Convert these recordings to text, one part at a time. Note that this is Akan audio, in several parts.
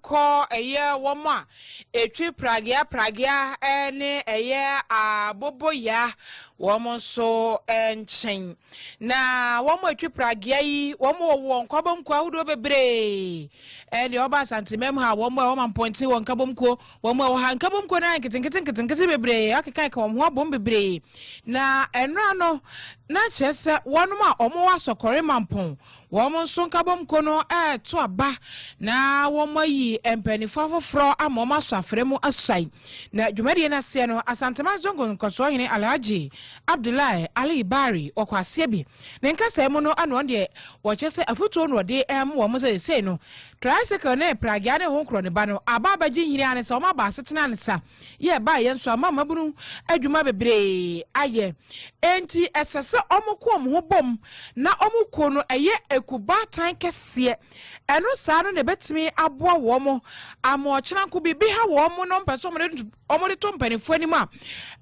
kɔ ɛyɛ wɔn a ɛtwi pragea pragea ne ɛyɛ aboboya wɔn nso nkyɛn. Na wɔn a ɛtwi pragea yi, wɔn wɔ wɔn nkabomkuo ahodoɔ bebree. Ɛdeɛ wɔba Asantemam ha, wɔn a wɔma mpɔnten wɔ nkabomkuo, wɔn a wɔha nkabomkuo no nketenkete nketenkete bebree, akekaka wɔn ho abom bebree. Na ɛnora no, na kyerɛ sɛ wɔnom a wɔwɔ asɔkɔre mampɔn, Wɔn nso nkabom ko no reto aba na wɔayi mpanyinfo afoforɔ ama wɔn asɔ afrɛ mu asuae. Na dwumadie no aseɛ no, Asanteman Zongo Nkɔsoɔhene Alhaji Abdullahi Ali Bari wɔ kwaseɛ bi ne nkasaɛ mu no ɛna ɔno deɛ wɔkyɛ sɛ afutuo na ɔde rema wɔn sɛ seisei no tricycle ne pragea ne honkorɔ ne ba no aba abɛgye nhini ara ne sɛ wɔn aba asetena nsa. yɛ baeɛ nso ama mmabunu adwuma bebree ayɛ. Enti ɛsɛ sɛ wɔko wɔn ho bom na wɔn kuo no yɛ ekubaatan kɛseɛ. Ɛno saa no na ɛbɛtumi aboa wɔn ama ɔkyena nko biribi ha wɔn na wɔmpɛ sɛ wɔde to mpanimfoɔ anim a,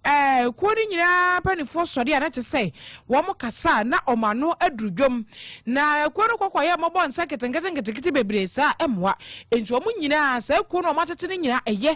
ɛɛ kuo no nyinaa mpanimfoɔ sɔde a na kyerɛ sɛ wɔn kasa a na wɔn ano aduru dwom. Na kuo no kɔkɔ yɛ mmɔbɔ nsa nketenkete nketekete bebree saa mmoa. Enti wɔn nyinaa saa kuo no wɔatete no nyinaa ɛyɛ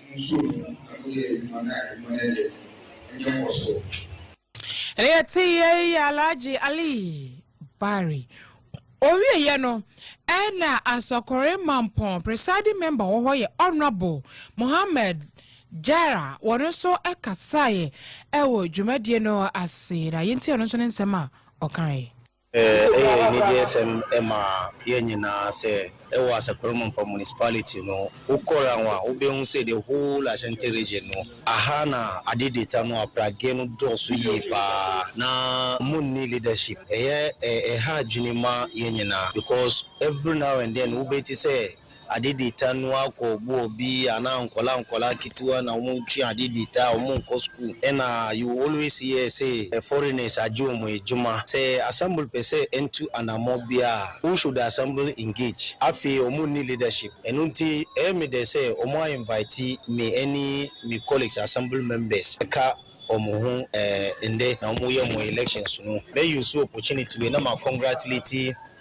Nso ɛno yɛ adwuma na adwuma no yɛ anya nkɔsoɔ. Ɛnna yɛtee yɛn Alhaji Ali Bari. Ɔwieeɛ no, ɛnna Asɔkɔre Mampɔn presiding member wɔ hɔ yɛ Honourable Mohammed Jara, wɔn nso kasaeɛ wɔ dwumadie no ase, na yɛntie ɔno nso ne nsɛm a ɔkaeɛ. Ɛyɛ anigyesɛm ma yɛn nyinaa sɛ wɔ Asakuramampa Municipality no, wokɔ Rang a, wobɛhu sɛ the whole Ashanti region no, aha na ade data no, apragee no dɔɔso yie pa ara na wɔnni leadership. Ɛyɛ ɛha adwene ma yɛn nyinaa because every now and then wobɛte sɛ ade di ta no akɔ ɔbo ɔbi anaa nkɔla nkɔla akitiwa na ɔmo ntwi ade di ta ɔmo nkɔ school ɛna you will always hear say foreigners agye ɔmo adwuma sɛ assembly pɛ sɛ ɛntu anamɔ biaa who should assembly engage afei ɔmo nni leadership ɛno nti ɛyɛ me dɛ sɛ ɔmo a invite me ɛne me colleagues assembly members ɛka ɔmo ho ɛɛ ndɛ na ɔmo yɛ ɔmo elections no mɛ use opportunity wei na ma congratulate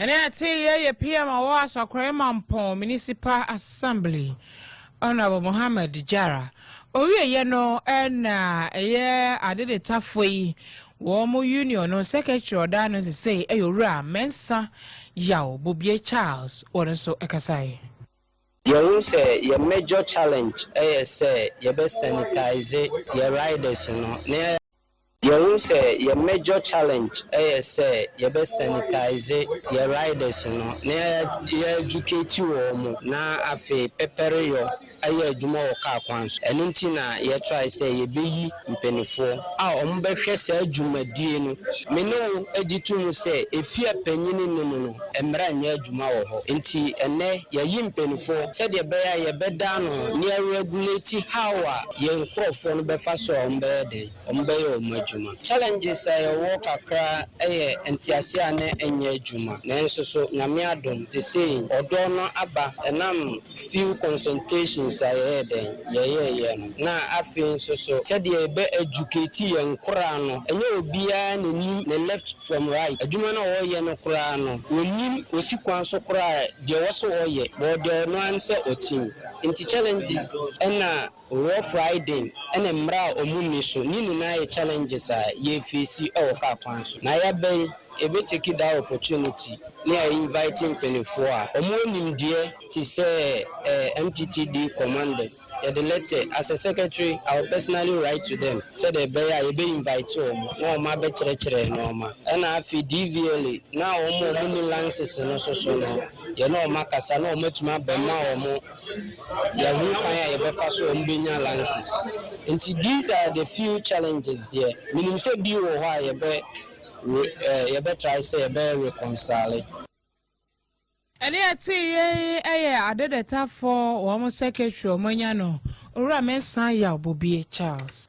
Ɛnɛ yɛtee yɛ yɛ PM a ɔwɔ Asakware Mampɔn Municipal Assembly, Honourable Mohammed Jara. Ɔwieɛ no na ɛyɛ adedetafoɔ yi wɔn mo union no secretary ɔdaa no sesei ɛyɛ Owura Mensah Yaw Bobie Charles wɔ no nso kasaeɛ. Yɛhu sɛ yɛ major challenge yɛ sɛ yɛbɛ sanitize yɛ riders no na yɛayɛ. Yɛhu sɛ yɛn major challenge yɛ sɛ yɛbɛ sanitize yɛn riders no na yɛ educate wɔn na afei pɛpɛreyɔ ayɛ adwuma wɔ car kwan so. Ɛno nti na yɛ try sɛ yɛbɛyi mpaninfoɔ a wɔn bɛhwɛ saa dwumadie no. Me ne wo gye to mu sɛ ɛfie a panin nni mu no mmara nyɛ adwuma wɔ hɔ. Nti ɛnnɛ yɛayi mpaninfoɔ sɛdeɛ ɛbɛyɛ a yɛbɛda ano na yɛ regulate how a yɛn nkorɔfoɔ no bɛfa so a wɔn bɛyɛ dɛn. ase wɔn bɛyɛ wɔn adwuma. Challenges a yɛwɔ kakra yɛ ntease a na ɛnyɛ adwuma nanso so Nyame adom te sei ɔdɔ no aba ɛnam few consultations a yɛyɛ dɛn yɛyɛɛyɛ no na afei nso so sɛdeɛ yɛbɛ educate yɛn nkoraa no ɛnyɛ obiara na nim ne left from right adwuma no a ɔyɛ no koraa no ɔnim ɔsi kwan so koraa deɛ ɔwɔ sɛ ɔyɛ but ɔdɛ ɔno ara ne sɛ ɔtim nti challenges ɛna Wɔ Friday ne mmara a ɔmo nni so ne nyinaa yɛ challenges a yɛ face wɔ car kwan so na yɛ bɛn yɛ bɛ take that opportunity ne a invite mpaninfoɔ a ɔmo wɔ nimdeɛ te sɛ MTTD commanders yɛ de letter as a secretary I will personally write to them sɛdeɛ ɛbɛyɛ a yɛ bɛ invite ɔmo na ɔmo abɛ kyerɛkyerɛ nnoɔma ɛna afei DVLA no a ɔmo a ɔmo nni lances no nso so no yɛ ne ɔmo akasa na ɔmo atumi abɛ ma ɔmo yɛahu kwan a yɛbɛfa so a mubenya license. Ntsi these are the few challenges deɛ minim sɛ bi wɔ hɔ a yɛbɛ re eh yɛbɛ try sɛ yɛbɛ reconcile. Ɛne yɛtee yei yɛ Adedetafo wɔn secretary a wɔanya no, Owura Mensah Yaw Bobie Charles.